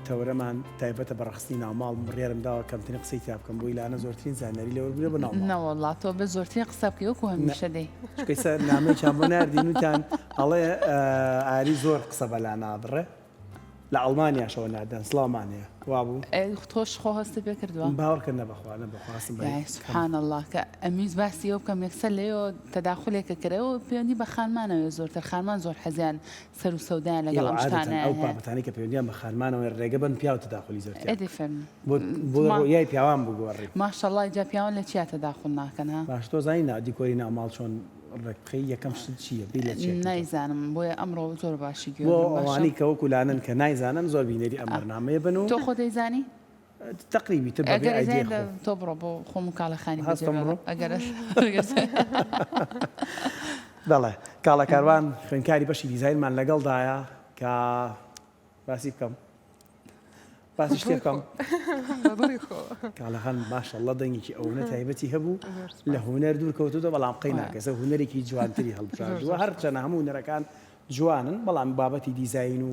تەورەمان تایبەتە بە ڕەخسنی ناوماڵ بڕیارم داوە کەمترین قسەی تیا بکەم بۆی لانە زۆرترین زانیاری لێ وەرگرە بە ناوماڵ نەوەڵڵا تۆ بە زۆرترین قسە بکەی وەکو هەمیشە دەی چونکە ئێستا نامەیەکیان بۆ ناردین وتیان ئەڵێ ئا، ئاری زۆر قسە بە لانا بڕێ لە ئەڵمانیاشەوە ناردیان سڵاومان هەیە وابوو ئێ، تۆش خۆ هەستت پێ کردووە باوەڕکە نەبەخوا نەبەخوا هەستم بە یای سبحان اللە کە ئەمویست باسی ئەوە بکەم یەکسەر لەوێوە تەداخولێکە کرا و پەیوەندی بە خانمانەوە زۆرتر خانمان زۆر حەزیان سەرو سەودایان لەگەڵ ئەم شتانە هەیە. ئێوە عادەتەن ئەو بابەتانەی کە پەیوەندیان بە خانمانەوەیە رێگە بەن پیاو تەداخولی زۆرتیا بکەن. ئەدی فەرموو. بۆ رویای پیاوان بگۆڕی. ماشەڵڵا ئیجا پیاوان لە چیا تەداخول ناکەن ها؟ باشە تۆ زانی نا دیکۆری ناو ماڵ چۆن رێک بخەی یەکەم شت چیە بیر لە چیە کەیتەوە؟ نایزانم بۆیە ئەمڕۆ زۆر باشی گوێم بۆ ئەوانەی کە وەکو لانن کە نایزانن زۆر بینەری ئەم بەرنامەیە بن و. تۆ خۆ دەیزانی؟ تەقریبی تر بەبێ ئایدیای خۆم. ئەگەر تۆ بڕۆ بۆ خۆم کاڵەخانی بە جێ بەڵێ ئەگەر دەڵێ کاڵە کاروان خوێندکاری بەشی دیزاینمان لەگەڵ دایە کە باسی بکەم باسی شتێ بکەم کاڵەخان ماشەڵڵە دەنگێکی ئەوەنە تایبەتی هەبوو لە هوەر دوور کەوتوتە بەڵام قەی ناکەسە هوەرێکی جوانتری هەڵبژاردووە هەرچەنە هەموو نەرەکان جوانن بەڵام بابەتی دیزین و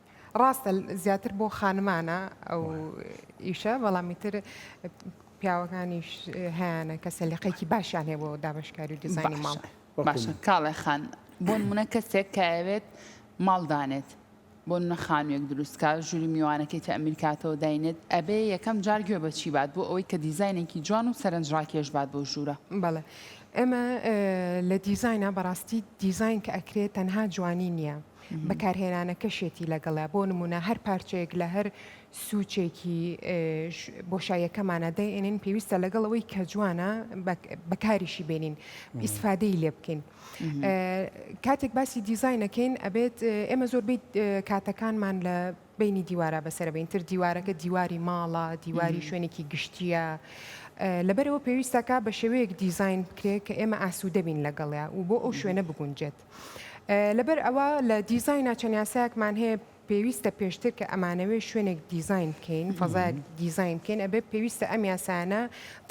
ڕاستە زیاتر بۆ خانمانە ئەو ئیشە بەڵام ئیتر پیاوەکانیش هەیانە کە سەلیقەیەکی باشیان هەیە بۆ دابەشکاری و دیزاینی ماڵ باشە باشە بکەن. کاڵێ خان بۆ نمونە کەسێک کایەوێت ماڵ دانێت بۆ نمونە خانوویەک دروست کا ژووری میوانەکەی تەئمیر کاتەوە داینێت ئەبێ یەکەم جار گوێ بە چی بات بۆ ئەوەی کە دیزاینێکی جوان و سەرنجڕاکێش بات بۆ ژوورە بەڵێ ئێمە ئە، لە دیزاینە بەڕاستی دیزاین کە ئەکرێت تەنها جوانی نییە بەکارهێنانەکەشێتی لەگەڵە بۆ نمونە هەر پارچەیەک لە هەر سوچێکی بۆشایەکەمانە دەێنین پێویستە لەگەڵ ئەوەی کە جوانە بەکاریشی بێنین ئیسفادەی لێ بکەین کاتێک باسی دیزینەکەین ئەبێت ئێمە زۆربەی کاتەکانمان لە بینی دیوارە بەسەر بینتر دیوارەکە دیواری ماڵە دیواری شوێنێکی گشتیە لەبەرەوە پێویستەکە بە شێوەیەک دیزین بکرێت کە ئێمە ئاسوودەبین لەگەڵیا و بۆ ئەو شوێنە بگونجێت. لەبەر ئەوە لە دیزاینا چەند یاسایەکمان هەیە پێویستە پێشتر کە ئەمانەوێ شوێنێک دیزین بکەین فەزایەک دیزین بکەین ئەبێ پێویستە ئەم یاسایانە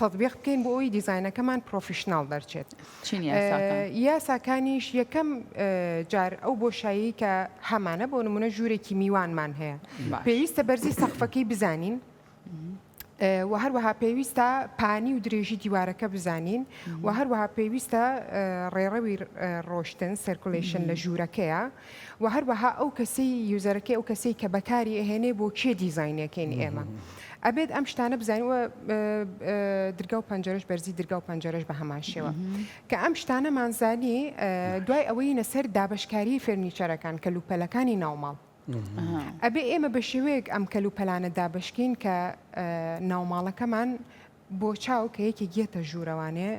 تەطبیق بکەین بۆ ئەوی دیزینەکەمان پرۆفیشنناڵ دەرچێت چین یاساکان؟ ئه، یاساکانیش یەکەم ئه، جار ئەو بۆشایی کە هەمانە بۆ نمونە ژوورێکی میوانمان هەیە بەس. پێویستە بەرزی سەقفەکەی بزانین و هەروەها پێویستە پانی و درێژی دیوارەکە بزانین و هەروەها پێویستە ڕێڕەوی ڕۆشتن سرکولشن لە ژوورەکەیە و هەروەها ئەو کەسی یوزەرەکەی ئەو کەسی کە بەکاری ئەهێنێ بۆ کێ دیزینەکەین ئێمە ئەبێت ئەم شتانە بزانیوە درگا و پەنجەرش بەرزی درگا و پەنجەرش بە هەمان شێوە کە ئەم شتانە مانزانی دوای ئەوەی نەسەر دابشکاری فێرنیچەرەکان کە لوپەلەکانی ناوماڵ ئەبێ ئێمە بە شێوەیەک ئەم کەل و پەلانە دابەشکەین کە ناوماڵەکەمان بۆ چاو کە یەکێک یەتە ژوورەوانێ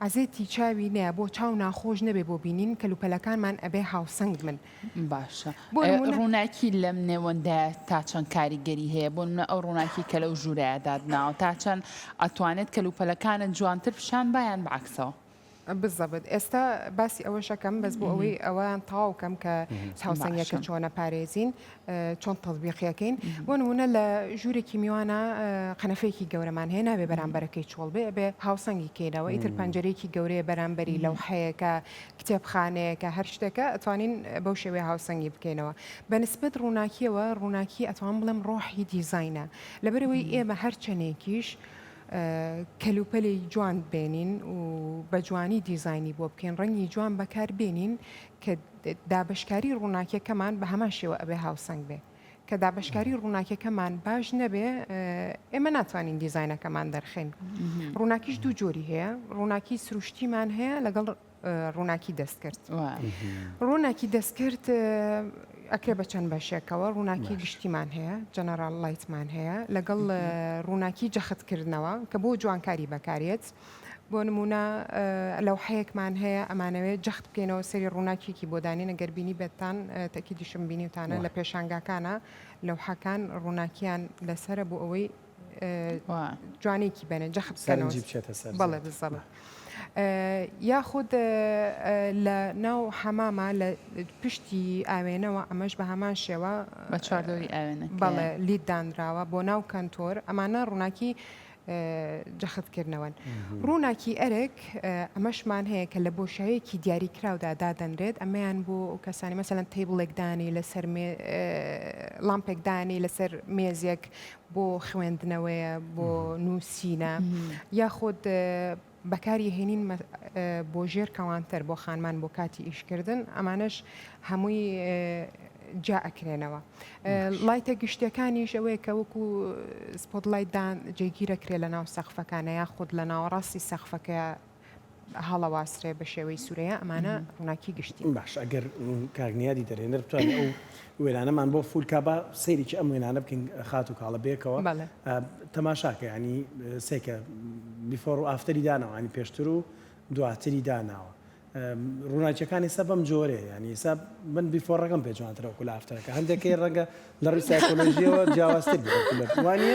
عزێتی چاوی نە بۆ چاو ناخۆش نەبێ بۆ بینین کەل و پەلەکانمان ئەبێ هاوسنگ من باشە بۆ ڕووناکی لەم نێوەندە تا چەند کاریگەری هەیە بۆ منە ئەو ڕووناکی کە لەو ژوورایە دادناوە تا چەند ئەتوانێت کەل و پەلەکانت جوانتر پیشان بایان بەعکسەوە بزەبت ئێستا باسی ئەوەشەکەم بەس بۆ ئەوەی ئەوان تاو کەم کە چاوسەنگەکە چۆنە پارێزین چۆن تەزبیقیەکەین بۆ نمونە لە ژوورێکی میوانە قەنەفێکی گەورەمان هەیە نابێ بەرامبەرەکەی چۆڵ بێ بێ هاوسەنگی کەینەوە ئیتر پەنجەرێکی گەورەیە بەرامبەری لەو حەیەکە کتێبخانەیەەکە هەر شتێکە ئەتوانین بەو شێوێ هاوسەنگی بکەینەوە بەنسبت ڕووناکیەوە ڕووناکی ئەتوان بڵێم ڕۆحی دیزینە لەبەرەوەی ئێمە هەرچەندێکیش کەلوپەلی جوان بێنین و بە جوانی دیزاینی بۆ بکەین ڕەنگی جوان بەکار بێنین کە دابشکاری ڕووناکیەکەمان بە هەمان شێوە ئەبێ هاوسەنگ بێ کە دابشکاری ڕووناکیەکەمان باش نەبێ ئێمە ناتوانین دیزینەکەمان دەرخین ڕووناکیش دوو جۆری هەیە ڕووناکی سروشتیمان هەیە لەگەڵ ڕووناکی دەستکرد ڕووناکی دەستکرد ئەکرێ بە چەند بەشێکەوە ڕووناکی گشتیمان هەیە جەنەرال لایتمان هەیە لەگەڵ ڕووناکی جەختکردنەوە کە بۆ جوانکاری بەکارێت بۆ نمونە لەو حەیەکمان هەیە ئەمانەوێت جەخت بکەینەوە سری ڕووناکیکی بۆ دانێن ئەگەر بینی بێتان تەکی دیشم بینیتانە لە پێشانگاکانە لەو حەکان ڕووناکیان لەسرە بۆ ئەوەی جوانێکی بەێن جەخت سەرنجی بچێتە سەر بەڵێ بزەڵە یاخود لە ناو حەمامە لە پشتی ئاوێنەوە ئەمەش بە هەمان شێوە بە چواردۆری ئاوێنە بەڵێ لید دانراوە بۆ ناو کەنتۆر ئەمانە ڕووناکی جەختکردنەوەن ڕووناکی ئەرک ئەمەشمان هەیە کە لە بۆشایەکی دیاریکراودا دادەنرێت ئەمەیان بۆ کەسانی مەسەەن تەیبڵێکدانی لەسەر لامپێکدانی لەسەر مێزێک بۆ خوێندنەوەیە بۆ نووسینە یاخود بەکاری هێنین بۆ ژێر کەوانتەر بۆ خانمان بۆ کاتی ئیشکردن ئەمانش هەمووی جا ئەکرێنەوە لایتە گشتەکانیش ئەوەیە کە وەکو سپۆت لایتدان جێگیرەکرێ لە ناو سەخفەکانە یاخود لە ناوەڕاستی سەخفەکە هەڵەواسرێ بە شێوەی سورەیە ئەمانە ڕوناکی گشتی. باش ئەگەر کاک نیادی دەرێنەر بتوانێ ئەو وێنانەمان بۆ فول کا با سەیرێکی ئەم وێنانە بکەین خاتو کاڵە بەیەکەوە بەڵێ. تەماشاکە یانی سێکە بیفۆر و ئافتەری داناوە یانی پێشتر و دواتری داناوە ڕووناکیەکانی سە بەم جۆرێ یانی ئێستا من بیفۆڕەکەم پێ جوانترە وەکو لە ئافتەرەکە هەندێکی ڕەنگە لە ڕووی سایکۆلۆژیەوە جیاوازتر بێت وەکو لە وانە؟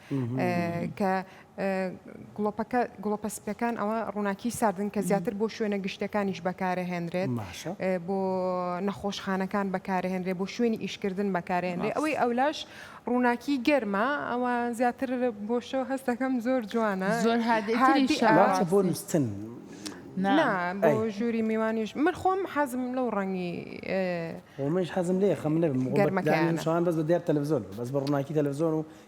کە گڵۆپەکە گڵۆپە سپیەکان ئەوە ڕووناکی ساردن کە زیاتر بۆ شوێنە گشتەکانیش بەکارەهێنرێت بۆ نەخۆشخانەکان بەکارهێنرێ بۆ شوێنی ئیشکردن بەکارێنرێ ئەوەی ئەولاش ڕووناکی گەرمە ئەوە زیاتر بۆشەوە هەستەکەم زۆر جوانە زۆر هادی بۆ نووسن بۆ ژووری میوانیش من خۆم حەزم لەو ڕەنگی ومەش حەزم لێ خەم نەبم گەرمەکەیان شوان بەس بە دیار تەلەڤزۆن بەس بە ڕووناکی تەلەڤزۆن و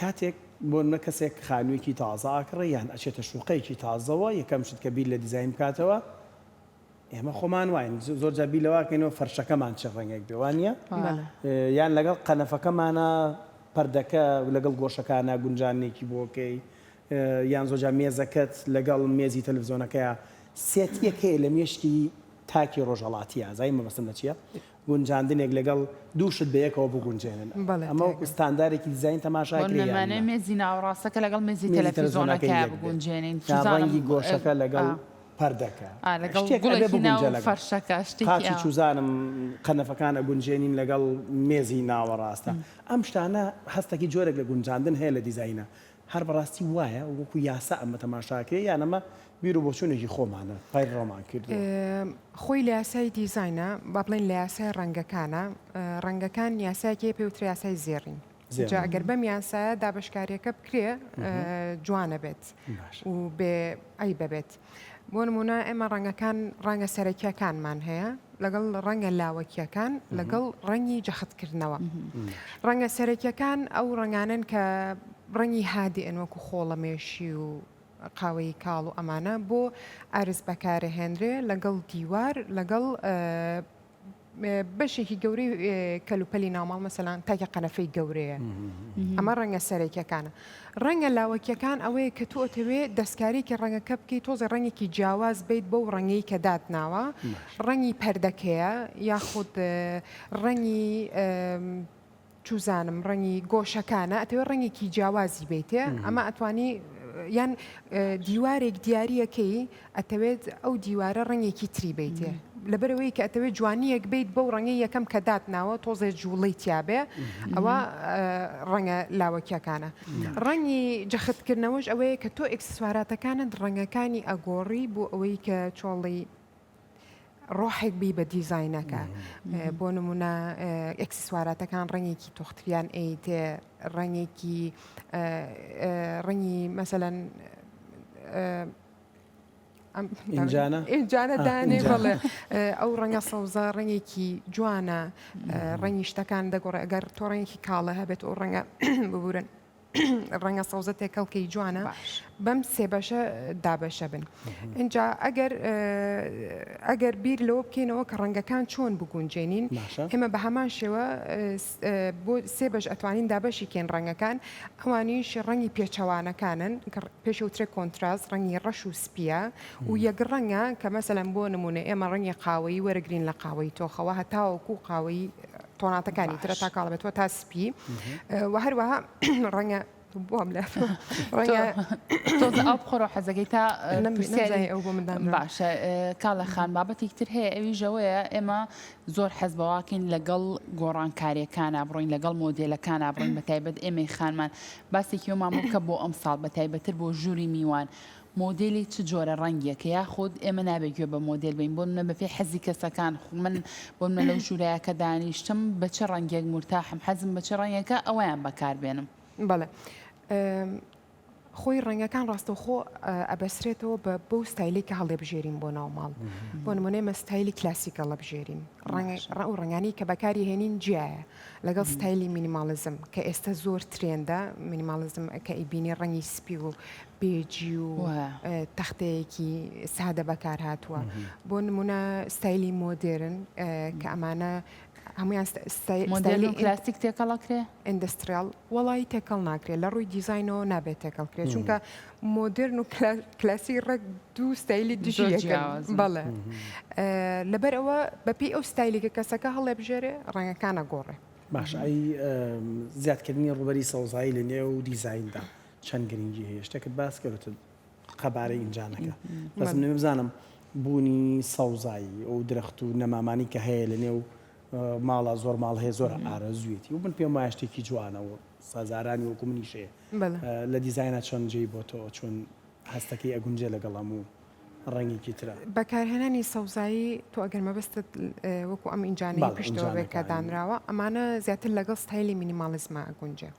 کاتێک بۆنمونە کەسێک خانویەکی تازە ئاکڕێ یان ئەچێتە شوقەیەکی تازەوە یەکەم شت کە بیر لە دیزاین بکاتەوە ئێمە خۆمان واین زۆرجار بیر لەواکەینەوە فەرشەکەمان چ ڕەنگێک بێ وانە یان لەگەڵ قەنەفەکەمانە پەردەکە لەگەڵ گۆشەکانە گونجانێکی بۆکەی یان زۆجا مێزەکەت لەگەڵ مێزی تەلفزۆنەکەیە سێتیەکەی لە مێشکی تاکی ڕۆژهەڵاتی ئازای مەبەستم لە چیە گونجاندنێک لەگەڵ دوو شت بەیەکەوە بگونجێنن ئەمە وەکو ستاندارێکی دیزاین تەماشا کرێ یان نا؟ بەمەعنای مێزی ناوەڕاستەکە لەگەڵ مێزی تەلەفیزۆنەکە یەک بێت یان ڕەنگی گۆشەکە لەگەڵ پەردەکە شتێک ئەبێ بگونجێ لەگەڵ قاچی چوزانم قەنەفەکان ئەگونجێنین لەگەڵ مێزی ناوەڕاستە ئەم شتانە هەستەکی جۆرێک لە گونجاندن هەیە لە دیزاینە هەر بەڕاستی وایە وەکو یاسا ئەمە تەماشا کرێ یان ئەمە بیرو بۆچونێکی خۆمانە پەیڕەومان کردووە؟ خۆی لە یاسای دیزاینە با بڵێین لە یاسای ڕەنگەکانە ڕەنگەکان یاسایەکی هەیە پێوترێ یاسای زێڕین جا ئەگەر بەم یاسایە دابەشکاریەکە بکرێ جوانە بێت و بێ عەیبە بێت. بۆ نموونە ئێمە ڕەنگەکان ڕەنگە سەرەکیەکانمان هەیە لەگەڵ ڕەنگە لاوەکیەکان لەگەڵ ڕەنگی جەختکردنەوە ڕەنگە سەرەکیەکان ئەو ڕنگانن کە ڕەنگی هادی ئەنوەکو خۆڵەمێشی و قاوەی کاڵ و ئەمانە بۆ ئارز بەکارەهێنرێ لەگەڵ دیوار لەگەڵ بەشێکی گەورەی کەلوپەلی ناوماڵ مەسەلان تاکە قەنەفەی گەورەیە ئەمە ڕەنگە سەرەکیەکانە ڕەنگە لاوەکیەکان ئەوەیە کە تۆ ئەتەوێ دەستکارێکی ڕەنگەکە بکەیت تۆزە ڕەنگێکی جیاواز بیت بەو ڕەنگی کە دات ناوە ڕەنگی پەردەکەیە یاخود ڕەنگی چوزانم ڕەنگی گۆشەکانە ئەتەوێ ڕەنگێکی جیاوازی بەیتێ ئەمە ئەتوانی یان دیوارێک دیارریەکەی ئەتەوێت ئەو دیوارە ڕەنگێکی تری بەیتێ لەبەرەوەی کە ئەتەوێت جوانیەک بیت بەو ڕەنگی یەکەم کە دات ناوە تۆزێ جوڵی تیاابێ ئەوە ڕەنگە لاوەکیەکانە ڕەنگی جەختکردنەوەش ئەوەیە کە تۆ ئکسسواراتەکانت ڕەنگەکانی ئەگۆڕی بۆ ئەوەی کە چۆڵی ڕۆحێک بی بە دیزاینەکە بۆ نمونە ئەکسسواراتەکان ڕەنگێکی تۆختیان ئەیت ڕەنگێکی ڕەنگی مەسەەن ئەمجانە ئەمجانە دانێ بڵێ ئەو ڕەنگە سەوزە ڕەنگێکی جوانە ڕەنگی شتەکان دەگۆڕێ ئەگەر تۆ ڕەنگێکی کاڵە هەبێت ئەو ڕەنگە ببورن ڕەنگە سەوزە تێکەڵکەی جوانە بەم سێ بەشە دابەشە بن اینجا ئەگەر ئەگەر بیر لەوە بکەینەوە کە ڕەنگەکان چۆن بگونجێنین ئێمە بە هەمان شێوە بۆ سێ بەش ئەتوانین دابەشی کێن ڕەنگەکان ئەوانیش ڕەنگی پێچەوانەکانن پێشوترێک کۆنتراس ڕەنگی ڕەش و سپیە و یەک ڕەنگە کە مەسەلەن بۆ نمونە ئێمە ڕەنگی قاوەی وەرەگرین لە قاوەی تۆخەوە هەتاوەکو قاوەی تۆناتەکانی ترە تا کاڵبێتەوە تا پی و هەروەها ڕەنگە بۆم لە ئەو بخۆرە حەزەکەی تا نەمزای ئەو بۆ مندان باشە کاڵە خان بابەتێک تر هەیە ئەوی ژەوەیە ئێمە زۆر حەز بەواکەین لەگەڵ گۆڕانکاریەکانە بڕین لەگەڵ مۆدلەکانە بڕین بە تایبەت ئێمەی خانمان باسێکی ئەومان بکە بۆ ئەم ساڵ بە تایبەتر بۆ ژووری میوان مۆدێلی چ جۆرە ڕەنگیەکە یاخود ئێمە نابێ گوێ بە مۆدێل بین بۆ نمونە بەپێی حەزی کەسەکان خو من بۆ نمونە لەو ژورەیا کە دانیشتم بە چ ڕەنگێک مورتاحم حەزم بە چ ڕەنگێکە ئەوەیان بەکار بێنم. بەڵێ خۆی ڕەنگەکان ڕاستەوخۆ ئەبەسرێتەوە بە بەو ستایلەی کە هەڵێبژێرین بۆ ناو ماڵ بۆ نمونەی مە ستایلی کلاسیک هەڵەبژێرین ڕەنگ و ڕەنگانی کە بەکاری هێنین جیایە لەگەڵ ستایلی مینیماڵزم کە ئێستا زۆر ترێندا مینیماڵزم کە ئیبینی ڕەنگی سپی و پێجی و تەختەیەکی سادە بەکارهاتووە بۆ نمونە ستایلی مۆدێرن کە ئەمانە هەمویان مۆدێرن کلاسیک تێکەڵەکرێ ئەندستریال وڵی تێکەڵ ناکرێت لە ڕووی دیزینەوە نابێت تێکەڵکرێت چونکە مۆدرن و کلاسی ڕێک دوو ستایلی دژی بەڵێ لەبەر ئەوە بەپی ئەو ستایلیکە کەسەکە هەڵێ بژێرێ ڕەنگەکانە گۆڕێ باشایی زیادکردنی ڕوبەری سەوزایی لە نێو دیزیندا چەند گرنگی هەیە شتێکت باس کەوتت قەبارەی ئینجا نەکە بەس من بزانم بوونی سەوزایی ئەو درەخت و نەمامانی کە هەیە لە نێو ماڵە زۆر ماڵ هەیە زۆر ئارەزوێتی و من پێم وایە شتێکی جوانەوە سازارانی وەکو منیشەیە لە دیزاینا چەند جێی بۆ تۆ چۆن هەستەکەی ئەگونجێ لەگەڵ هەموو ڕەنگێکی ترە بەکارهێنانی سەوزایی تۆ ئەگەر مەبستت وەکو ئەم ئینجانەی پشتەوە بێکە دانراوە ئەمانە زیاتر لەگەڵ ستایلی مینیماڵزمە گونجێ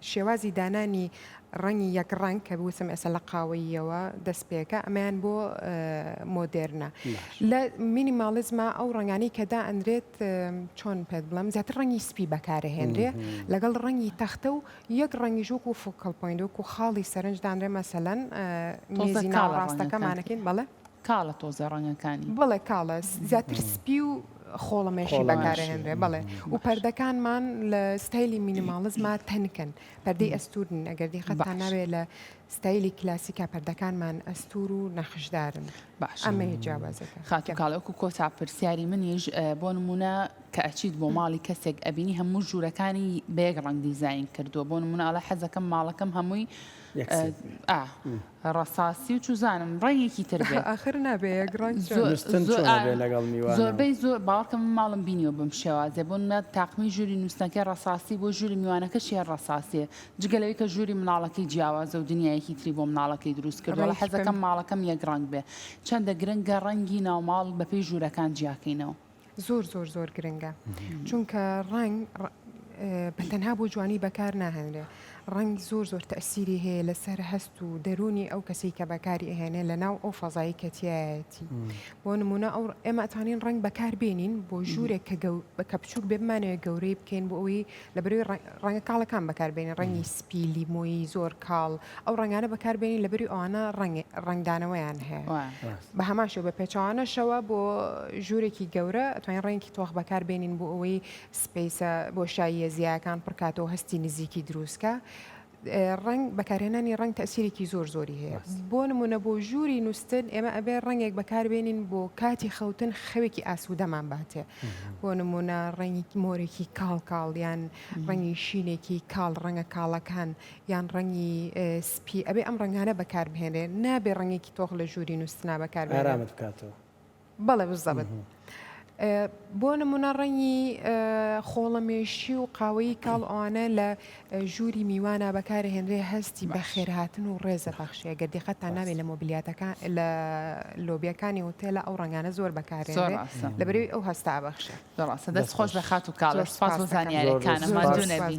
شێوازی دانانی ڕەنگی یەک ڕەنگ کە بوسم ئێستا لە قاوەییەوە دەست پێکە ئەمەیان بۆ مۆدێرنە لە مینیماڵزما ئەو ڕنگانی کە دا ئەندرێت چۆن پێت بڵم زیاتر ڕەنگی سپی بەکارهێنرێ لەگەڵ ڕەنگی تەختە و یەک ڕەنگی ژوک و فکەڵ پوین وەکو خاڵی سەرنجدانرێ مەسەەن میزی ناوەڕاستەکەمانەکەین بەڵێ کاڵە تۆزێ ڕەنگەکانی. بەڵێ کاڵە، زیاتر سپی و خۆڵەمێشی بەکارەهێنرێ بەڵێ و پەردەکانمان لە ستایلی مینیماڵزما تەنکن پەردەی ئەستورن ئەگەر دیقەتتان ناوێ لە ستایلی کلاسیکا پەردەکانمان ئەستور و نەخشدارن باش ئەمەیە جیاوازەکە خاتو کاڵەکو کۆتا پرسیاری منیش بۆ نمونە کە ئەچیت بۆ ماڵی کەسێک ئەبینی هەموو ژوورەکانی بەیەک ڕەنگ دیزین کردووە بۆ نمونە ئەڵێ حەزەکەم ماڵەکەم هەمووی ڕەساسی و چوزانم ڕەنگێکی تر زۆربەی زۆر باڵکەم ماڵم بینیەوە بم شێوازێ بۆ نە تاقمی ژووری نووسەکە ڕساسی بۆ ژووری میوانەکە شێ ڕساسێ جگەلەوەی کە ژووری مناڵەکەی جیاوازە و دنیایەکی تری بۆ مناڵەکەی دروست کردەوە حەزەکەم ماڵەکەم یەک ڕنگ بێ چەندە گرنگە ڕەنگی ناوماڵ بەپی ژوورەکان جیاکەینەوە. زۆر زۆر زۆر گرنگە چونکە ڕنگ بەتەنها بۆ جوانی بەکار ناهێنرێ ڕنگ زۆر زۆر تەسیری هەیە لەسەر هەست و دەرونی ئەو کەسی کە بەکاری ئەهێنێ لە ناو ئەو فەزایی کەتیایەتی بۆ نمونە ئەو ئێمەتانین ڕنگ بەکار بێنین بۆ ژوورێک کە بەکە بچووک بێمانەوە گەورەی بکەین بۆ ئەوی لە بەروی ڕەنگە کاڵەکان بەکاربێنین ڕەنگی سپیلی مۆیی زۆر کاڵ ئەو ڕەنگانە بەکاربێنین لەبری ئەوانە ڕەنگدانەوەیان هەیە بە هەمان شێ بە پێچوانەشەوە بۆ ژوورێکی گەورە توانین ڕێنکی تۆخ بەکار بێنین بۆ ئەوەی سپیسە بۆ شاییە زیاکان پڕکاتەوە هەستی نزیکی دروستکە. ڕنگ بەکارهێنانی ڕنگ تەسیرێکی زۆر زۆری هەیە بۆ نمونە بۆ ژووری نووسن ئێمە ئەبێ ڕنگێک بەکاربێنین بۆ کاتی خەوتن خەوێکی ئاسوودەمان باتێ بۆ نمونە ڕنگی مۆرێکی کاڵ کاڵیان ڕنگی شینێکی کاڵ ڕەنگە کاڵەکان یان ڕەنگی سپی ئەبێ ئەم ڕەنگانە بەکار بهێنێ نابێ ڕەنگێکی تۆخ لە ژووری نووسنا بەکار ئارامت بکاتەوە بەڵێ بزەبت بۆ نمونە ڕەنگی خۆڵەمێشی و قاوەیی کاڵ ئەوانە لە ژووری میوانە بەکارە هێنرێ هەستی بەخێرهاتن و ڕێزە بەخشەیە گە دیقەتان ناوێت لە مۆبلیاتەکان لە لۆبیەکانی هۆتێلە ئەو ڕنگانە زۆر بەکارێ لەبەرەوەی ئەو هەستا بەخشە دەست خۆش لە خات و کاڵ سپاس زانیارەکانە مادونەبی.